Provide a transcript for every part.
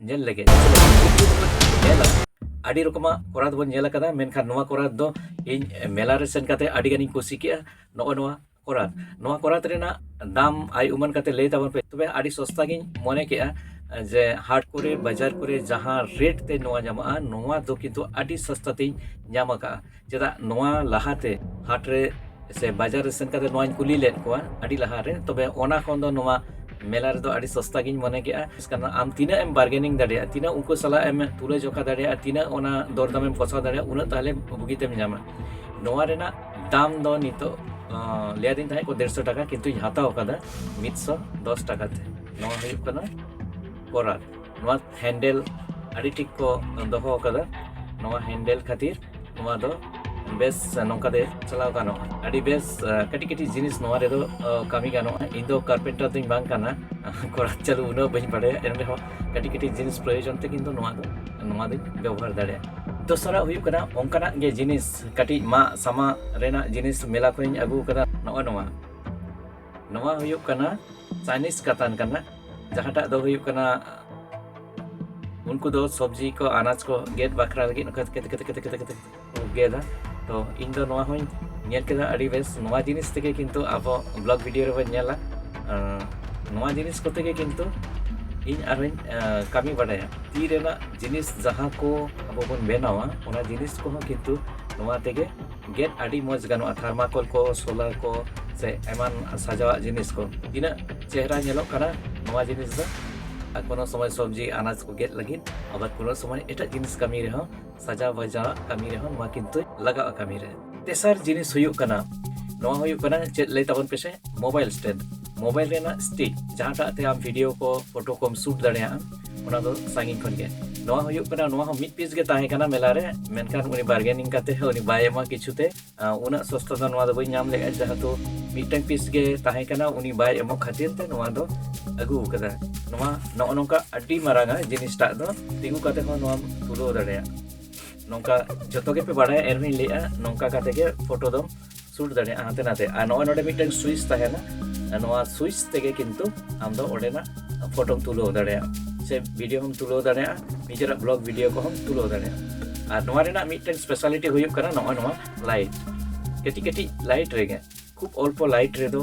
ᱧᱮᱞ ᱞᱮᱜᱮ ᱧᱮᱞᱟ ᱟᱹᱰᱤ ᱨᱚᱠᱚᱢᱟᱜ ᱠᱚᱨᱟᱛ ᱵᱚᱱ ᱧᱮᱞ ᱟᱠᱟᱫᱟ ᱢᱮᱱᱠᱷᱟᱱ ᱱᱚᱣᱟ ᱠᱚᱨᱟᱛ ᱫᱚ ᱤᱧ ᱢᱮᱞᱟ ᱨᱮ ᱥᱮᱱ ᱠᱟᱛᱮ ᱟᱹᱰᱤ ᱜᱟᱱᱤᱧ ᱠᱩᱥᱤ ᱠᱮᱜᱼᱟ ᱱᱚᱜᱼᱚ ᱱᱚᱣᱟ ᱠᱚᱨᱟᱛ ᱱᱚᱣᱟ ᱠᱚᱨᱟᱛ ᱨᱮᱱᱟᱜ ᱫᱟᱢ ᱟᱭ ᱩᱢᱟᱹᱱ ᱠᱟᱛᱮ ᱞᱟᱹᱭ ᱛᱟᱵᱚᱱ ᱯᱮ ᱛᱚᱵᱮ ᱟᱹᱰᱤ ᱥᱚᱥᱛᱟ ᱜᱤᱧ ᱢᱚᱱᱮ ᱠᱮᱜᱼᱟ ᱡᱮ ᱦᱟᱴ ᱠᱚᱨᱮ ᱵᱟᱡᱟᱨ ᱠᱚᱨᱮ ᱡᱟᱦᱟᱸ ᱨᱮᱴ ᱛᱮ ᱱᱚᱣᱟ ᱧᱟᱢᱚᱜᱼᱟ ᱱᱚᱣᱟ ᱫᱚ ᱠᱤᱱᱛᱩ ᱟᱹᱰᱤ ᱥᱚᱥᱛᱟ ᱛᱤᱧ ᱧᱟᱢ ᱟᱠᱟᱜᱼᱟ ᱪᱮᱫᱟᱜ ᱱᱚᱣᱟ ᱞᱟᱦᱟᱛᱮ ᱦᱟᱴ ᱨᱮ ᱥᱮ ᱵᱟᱡᱟᱨ ᱨᱮ ᱥᱮᱱ ᱠᱟᱛᱮ ᱱᱚᱣᱟᱧ ᱠᱩᱞᱤ ᱞᱮᱫ ᱠᱚᱣᱟ ᱟᱹᱰᱤ ᱞᱟᱦᱟ ᱨᱮ ᱛᱚᱵᱮ ᱚᱱᱟ ᱠᱷᱚᱱ ᱫᱚ ᱱᱚᱣᱟ ᱢᱮᱞᱟ ᱨᱮᱫᱚ ᱟᱹᱰᱤ ᱥᱚᱥᱛᱟ ᱜᱤᱧ ᱢᱚᱱᱮ ᱠᱮᱜᱼᱟ ᱠᱟᱨᱚᱱ ᱟᱢ ᱛᱤᱱᱟᱹᱜ ᱮᱢ ᱵᱟᱨᱜᱮᱱᱤᱝ ᱫᱟᱲᱮᱭᱟᱜᱼᱟ ᱛᱤᱱᱟᱹᱜ ᱩᱱᱠᱩ ᱥᱟᱞᱟᱜ ᱮᱢ ᱛᱩᱞᱟᱹ ᱡᱚᱠᱷᱟ ᱫᱟᱲᱮᱭᱟᱜᱼᱟ ᱛᱤᱱᱟᱹᱜ ᱚᱱᱟ ᱫᱚᱨ ᱫᱟᱢ ᱮᱢ ᱠᱚᱥᱟᱣ ᱫᱟᱲᱮᱭᱟᱜᱼᱟ ᱩᱱᱟᱹᱜ ᱛᱟᱦᱞᱮ ᱵᱩᱜᱤ ᱛᱮᱢ ᱧᱟᱢᱟ ᱱᱚᱣᱟ ᱨᱮᱱᱟᱜ ᱫᱟᱢ ᱫᱚ ᱱᱤᱛᱚᱜ ᱞᱟᱹᱭᱟᱫᱤᱧ ᱛᱟᱦᱮᱸᱫ ᱠᱚ ᱫᱮᱲᱥᱚ ᱴᱟᱠᱟ ᱠᱤᱱᱛᱩᱧ ᱦᱟᱛᱟᱣ ᱟᱠᱟᱫᱟ ᱢᱤᱫᱥᱚ ᱫᱚᱥ ᱴᱟᱠᱟ ᱛᱮ ᱱᱚᱣᱟ ᱦᱩᱭᱩᱜ ᱠᱟᱱᱟ ᱠᱚᱨᱟᱛ ᱱᱚᱣᱟ ᱦᱮᱱᱰᱮᱞ ᱟᱹᱰᱤ ᱴᱷᱤᱠ ᱠᱚ ᱫᱚᱦᱚ ᱟᱠᱟᱫᱟ ᱱᱚᱣᱟ ᱦᱮᱱᱰᱮᱞ ᱠᱷᱟᱹᱛᱤᱨ ᱱᱚᱣᱟ ᱫᱚ ᱵᱮᱥ ᱱᱚᱝᱠᱟ ᱛᱮ ᱪᱟᱞᱟᱣ ᱜᱟᱱᱚᱜᱼᱟ ᱟᱹᱰᱤ ᱵᱮᱥ ᱠᱟᱹᱴᱤᱡ ᱠᱟᱹᱴᱤᱡ ᱡᱤᱱᱤᱥ ᱱᱚᱣᱟ ᱨᱮᱫᱚ ᱠᱟᱹᱢᱤ ᱜᱟᱱᱚᱜᱼᱟ ᱤᱧ ᱫᱚ ᱠᱟᱨᱯᱮᱱᱴᱟᱨ ᱫᱚᱧ ᱵᱟᱝ ᱠᱟᱱᱟ ᱠᱚᱲᱟ ᱪᱟᱹᱞᱩ ᱩᱱᱟᱹᱜ ᱵᱟᱹᱧ ᱵᱟᱰᱟᱭᱟ ᱮᱱ ᱨᱮᱦᱚᱸ ᱠᱟᱹᱴᱤᱡ ᱠᱟᱹᱴᱤᱡ ᱡᱤᱱᱤᱥ ᱯᱨᱚᱭᱳᱡᱚᱱ ᱛᱮ ᱠᱤᱱᱛᱩ ᱱᱚᱣᱟ ᱫᱚ ᱱᱚᱣᱟ ᱫᱚᱧ ᱵᱮᱵᱚᱦᱟᱨ ᱫᱟᱲᱮᱭᱟᱜᱼᱟ ᱫᱚᱥᱟᱨᱟᱜ ᱦᱩᱭᱩᱜ ᱠᱟᱱᱟ ᱚᱱᱠᱟᱱᱟᱜ ᱜᱮ ᱡᱤᱱᱤᱥ ᱠᱟᱹᱴᱤᱡ ᱢᱟᱜ ᱥᱟᱢᱟᱜ ᱨᱮᱱᱟᱜ ᱡᱤᱱᱤᱥ ᱢᱮᱞᱟ ᱠᱷᱚᱱᱤᱧ ᱟᱹᱜᱩ ᱟᱠᱟᱫᱟ ᱱᱚᱜᱼᱚᱭ ᱱᱚᱣᱟ ᱱᱚᱣᱟ ᱦᱩᱭᱩᱜ ᱠᱟᱱᱟ ᱪᱟᱭᱱᱤᱡᱽ ᱠᱟᱛᱟᱱ ᱠᱟᱱᱟ ᱡᱟᱦᱟᱸᱴᱟᱜ ᱫᱚ ᱦᱩᱭᱩᱜ ᱠᱟᱱᱟ ᱩᱱᱠᱩ ᱫᱚ ᱥᱚᱵᱽᱡᱤ ᱠᱚ ᱟᱱᱟᱡᱽ ᱠᱚ ᱜᱮᱫ ᱵᱟᱠᱷᱨᱟ ᱞᱟᱹᱜᱤᱫ ᱱᱚᱝᱠᱟ ᱠᱟᱛᱮ ᱠᱟᱛᱮ ᱠᱟᱛᱮ ᱠᱟᱛᱮ ᱠᱟᱛᱮ ᱠᱚ ᱜᱮᱫᱟ ᱛᱚ ᱤᱧ ᱫᱚ ᱱᱚᱣᱟ ᱦᱚᱸᱧ ᱧᱮᱞ ᱠᱮᱫᱟ ᱟᱹᱰᱤ ᱵᱮᱥ ᱱᱚᱣᱟ ᱡᱤᱱᱤᱥ ᱛᱮᱜᱮ ᱠᱤᱱᱛᱩ ᱟᱵᱚ ᱵᱞᱚᱜ ᱵᱷᱤᱰᱤᱭᱳ ᱨᱮᱵᱚᱱ ᱧᱮᱞᱟ ᱱᱚᱣᱟ ᱡᱤᱱᱤᱥ ᱠᱚᱛᱮ ᱜᱮ ᱠᱤᱱᱛᱩ ᱤᱧ ᱟᱨᱦᱚᱸᱧ ᱠᱟᱹᱢᱤ ᱵᱟᱲᱟᱭᱟ ᱛᱤ ᱨᱮᱱᱟᱜ ᱡᱤᱱᱤᱥ ᱡᱟᱦᱟᱸ ᱠᱚ ᱟᱵᱚ ᱵᱚᱱ ᱵᱮᱱᱟᱣᱟ ᱚᱱᱟ ᱡᱤᱱᱤᱥ ᱠᱚᱦᱚᱸ ᱠᱤᱱᱛᱩ ᱱᱚᱣᱟ ᱛᱮᱜᱮ ᱜᱮᱫ ᱟᱹᱰᱤ ᱢᱚᱡᱽ ᱜᱟᱱᱚᱜᱼᱟ ᱛᱷᱟᱨᱢᱟᱠᱚᱞ ᱠᱚ ᱥᱳᱞᱟᱨ ᱠᱚ ᱥᱮ ᱮᱢᱟᱱ ᱥᱟᱡᱟᱣᱟᱜ ᱡᱤᱱᱤᱥ ᱠᱚ ᱛᱤᱱᱟᱹᱜ ᱪᱮᱦᱨᱟ ᱧᱮᱞᱚᱜ ᱠᱟᱱᱟ ᱱᱚᱣᱟ ᱡᱤᱱᱤᱥ ᱫᱚ ᱟᱨ ᱠᱳᱱᱳ ᱥᱚᱢᱚᱭ ᱥᱚᱵᱽᱡᱤ ᱟᱱᱟᱡᱽ ᱠᱚ ᱜᱮᱫ ᱞᱟᱹᱜᱤᱫ ᱟᱵᱟᱨ ᱠᱳᱱᱳ ᱥᱚᱢᱚᱭ ᱮᱴᱟᱜ ᱡᱤᱱᱤᱥ ᱠᱟᱹᱢᱤ ᱨᱮᱦᱚᱸ ᱥᱟᱡᱟᱣ ᱵᱟᱡᱟᱣᱟᱜ ᱠᱟᱹᱢᱤ ᱨᱮᱦᱚᱸ ᱱᱚᱣᱟ ᱠᱤᱱᱛᱩ ᱞᱟᱜᱟᱜᱼᱟ ᱠᱟᱹᱢᱤ ᱨᱮ ᱛᱮᱥᱟᱨ ᱡᱤᱱᱤᱥ ᱦᱩᱭᱩᱜ ᱠᱟᱱᱟ ᱱᱚᱣᱟ ᱦᱩᱭᱩᱜ ᱠᱟᱱᱟ ᱪᱮᱫ ᱞᱟᱹᱭ ᱛᱟᱵᱚᱱ ᱯᱮᱥᱮ ᱢᱳᱵᱟᱭᱤᱞ ᱥᱴᱮᱱᱰ ᱢᱳᱵᱟᱭᱤᱞ ᱨᱮᱱᱟᱜ ᱥᱴᱤᱠ ᱡᱟᱦᱟᱸᱴᱟᱜ ᱛᱮ ᱟᱢ ᱵᱷᱤᱰᱤᱭᱳ ᱠᱚ ᱯᱷᱳᱴᱳ ᱠᱚᱢ ᱥᱩᱴ ᱫᱟᱲᱮᱭᱟᱜᱼᱟ ᱚᱱᱟ ᱫᱚ ᱥᱟᱺᱜᱤᱧ ᱠᱷᱚᱱ ᱜᱮ ᱱᱚᱣᱟ ᱦᱩᱭᱩᱜ ᱠᱟᱱᱟ ᱱᱚᱣᱟ ᱦᱚᱸ ᱢᱤᱫ ᱯᱤᱥ ᱜᱮ ᱛᱟᱦᱮᱸ ᱠᱟᱱᱟ ᱢᱮᱞᱟ ᱨᱮ ᱢᱮᱱᱠᱷᱟᱱ ᱩᱱᱤ ᱵᱟᱨᱜᱮᱱᱤᱝ ᱠᱟᱛᱮ ᱦᱚᱸ ᱩᱱᱤ ᱵᱟᱭ ᱮᱢᱟ ᱠᱤᱪᱷᱩ ᱛᱮ ᱩᱱᱟᱹᱜ ᱥᱚᱥᱛᱟ ᱫᱚ ᱱᱚᱣᱟ ᱫᱚ ᱵᱟᱹᱧ ᱧᱟᱢ ᱞᱮᱫᱼᱟ ᱡᱮᱦᱮᱛᱩ ᱢᱤᱫᱴᱟᱝ ᱯᱤᱥ ᱜᱮ ᱛᱟᱦᱮᱸ ᱠᱟᱱᱟ ᱩᱱᱤ ᱵᱟᱭ ᱮᱢᱚᱜ ᱠᱷᱟᱹᱛᱤᱨ ᱛᱮ ᱱᱚᱣᱟ ᱫᱚ ᱟᱹᱜᱩ ᱟᱠᱟᱫᱟ ᱱᱚᱣᱟ ᱱᱚᱜᱼᱚ ᱱᱚᱝᱠᱟ ᱟᱹᱰᱤ ᱢᱟᱨᱟᱝᱟ ᱡᱤᱱᱤᱥᱴᱟᱜ ᱫᱚ ᱛᱤᱸᱜᱩ ᱠᱟᱛᱮ ᱦᱚᱸ ᱱᱚᱣᱟᱢ ᱛᱩᱞᱟᱹᱣ ᱫᱟᱲᱮᱭᱟᱜᱼᱟ ᱱᱚᱝᱠᱟ ᱡᱚᱛᱚ ᱜᱮᱯᱮ ᱵᱟᱲᱟᱭᱟ ᱮᱱᱦᱚᱸᱧ ᱞᱟᱹᱭᱮᱫᱼᱟ ᱱᱚᱝᱠᱟ ᱠᱟᱛᱮ ᱜᱮ ᱯᱷᱳᱴᱳ ᱫᱚᱢ ᱥᱩᱴ ᱫᱟᱲᱮᱭᱟᱜᱼᱟ ᱦᱟᱱᱛᱮ ᱱᱟᱛᱮ ᱟᱨ ᱱᱚᱜᱼᱚᱭ ᱱᱚᱰᱮ ᱢᱤᱫᱴᱟᱝ ᱥᱩᱭᱤᱪ ᱛᱟᱦᱮᱱᱟ ᱱᱚᱣᱟ ᱥᱩᱭᱤᱪ ᱛᱮᱜᱮ ᱠᱤᱱᱛᱩ ᱟᱢ ᱫᱚ ᱚᱸᱰᱮᱱᱟᱜ ᱯᱷᱳᱴᱳᱢ ᱛᱩᱞᱟᱹᱣ ᱫᱟᱲᱮᱭᱟᱜᱼᱟ ᱥᱮ ᱵᱷᱤᱰᱤᱭᱳ ᱦᱚᱢ ᱛᱩᱞᱟᱹᱣ ᱫᱟᱲᱮᱭᱟᱜᱼᱟ ᱱᱤᱡᱮᱨᱟᱜ ᱵᱞᱚᱜ ᱵᱷᱤᱰᱤᱭᱳ ᱠᱚᱦᱚᱸᱢ ᱛᱩᱞᱟᱹᱣ ᱫᱟᱲᱮᱭᱟᱜᱼᱟ ᱟᱨ ᱱᱚᱣᱟ ᱨᱮᱱᱟᱜ ᱢᱤᱫᱴᱟᱝ ᱥᱯᱮᱥᱟᱞᱤᱴᱤ ᱦᱩᱭᱩᱜ ᱠᱟᱱᱟ ᱱᱚᱜᱼᱚᱭ ᱱᱚᱣᱟ ᱞᱟᱭᱤᱴ ᱠᱟᱹᱴᱤᱡ ᱠᱟᱹᱴᱤᱡ ᱞᱟᱭᱤᱴ ᱨᱮᱜᱮ ᱠᱷᱩᱵ ᱚᱞᱯᱚ ᱞᱟᱭᱤᱴ ᱨᱮᱫᱚ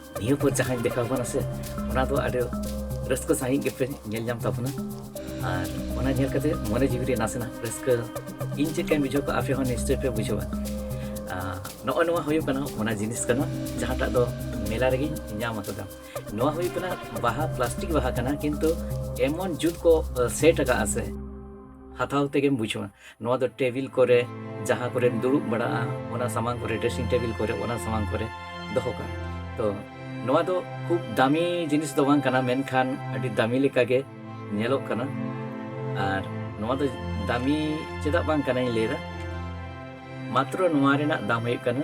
ᱱᱤᱭᱟᱹ ᱯᱚᱨ ᱡᱟᱦᱟᱸᱧ ᱫᱮᱠᱷᱟᱣ ᱠᱟᱱᱟ ᱥᱮ ᱚᱱᱟ ᱫᱚ ᱟᱹᱰᱤ ᱨᱟᱹᱥᱠᱟᱹ ᱥᱟᱺᱦᱤᱡ ᱜᱮᱯᱮ ᱧᱮᱞ ᱧᱟᱢ ᱛᱟᱵᱚᱱᱟ ᱟᱨ ᱚᱱᱟ ᱧᱮᱞ ᱠᱟᱛᱮ ᱢᱚᱱᱮ ᱡᱤᱣᱤ ᱨᱮ ᱱᱟᱥᱮᱱᱟᱜ ᱨᱟᱹᱥᱠᱟᱹ ᱤᱧ ᱪᱮᱫ ᱞᱮᱠᱟᱧ ᱵᱩᱡᱷᱟᱹᱣ ᱠᱟᱜᱼᱟ ᱟᱯᱮ ᱦᱚᱸ ᱱᱤᱥᱪᱚᱭ ᱯᱮ ᱵᱩᱡᱷᱟᱹᱣᱟ ᱱᱚᱜᱼᱚ ᱱᱚᱣᱟ ᱦᱩᱭᱩᱜ ᱠᱟᱱᱟ ᱚᱱᱟ ᱡᱤᱱᱤᱥ ᱠᱟᱱᱟ ᱡᱟᱦᱟᱸᱴᱟᱜ ᱫᱚ ᱢᱮᱞᱟ ᱨᱮᱜᱮᱧ ᱧᱟᱢ ᱟᱠᱟᱫᱟ ᱱᱚᱣᱟ ᱦᱩᱭᱩᱜ ᱠᱟᱱᱟ ᱵᱟᱦᱟ ᱯᱞᱟᱥᱴᱤᱠ ᱵᱟᱦᱟ ᱠᱟᱱᱟ ᱠᱤᱱᱛᱩ ᱮᱢᱚᱱ ᱡᱩᱛ ᱠᱚ ᱥᱮᱴ ᱟᱠᱟᱫᱼᱟ ᱥᱮ ᱦᱟᱛᱟᱣ ᱛᱮᱜᱮᱢ ᱵᱩᱡᱷᱟᱹᱣᱟ ᱱᱚᱣᱟ ᱫᱚ ᱴᱮᱵᱤᱞ ᱠᱚᱨᱮ ᱡᱟᱦᱟᱸ ᱠᱚᱨᱮ ᱫᱩᱲᱩᱵ ᱵᱟᱲᱟᱜᱼᱟ ᱚᱱᱟ ᱥᱟᱢᱟᱝ ᱠᱚᱨᱮ ᱰᱨᱮᱥᱤᱝ ᱴᱮᱵᱤᱞ ᱠᱚᱨᱮ ᱚᱱᱟ ᱥᱟᱢᱟᱝ ᱠᱚᱨᱮ ᱫᱚᱦᱚ ᱠᱟᱜᱼᱟ ᱛᱚ ᱱᱚᱣᱟ ᱫᱚ ᱠᱷᱩᱵ ᱫᱟᱢᱤ ᱡᱤᱱᱤᱥ ᱫᱚ ᱵᱟᱝ ᱠᱟᱱᱟ ᱢᱮᱱᱠᱷᱟᱱ ᱟᱹᱰᱤ ᱫᱟᱢᱤ ᱞᱮᱠᱟᱜᱮ ᱧᱮᱞᱚᱜ ᱠᱟᱱᱟ ᱟᱨ ᱱᱚᱣᱟ ᱫᱚ ᱫᱟᱢᱤ ᱪᱮᱫᱟᱜ ᱵᱟᱝ ᱠᱟᱱᱟᱧ ᱞᱟᱹᱭᱫᱟ ᱢᱟᱛᱨᱚ ᱱᱚᱣᱟ ᱨᱮᱱᱟᱜ ᱫᱟᱢ ᱦᱩᱭᱩᱜ ᱠᱟᱱᱟ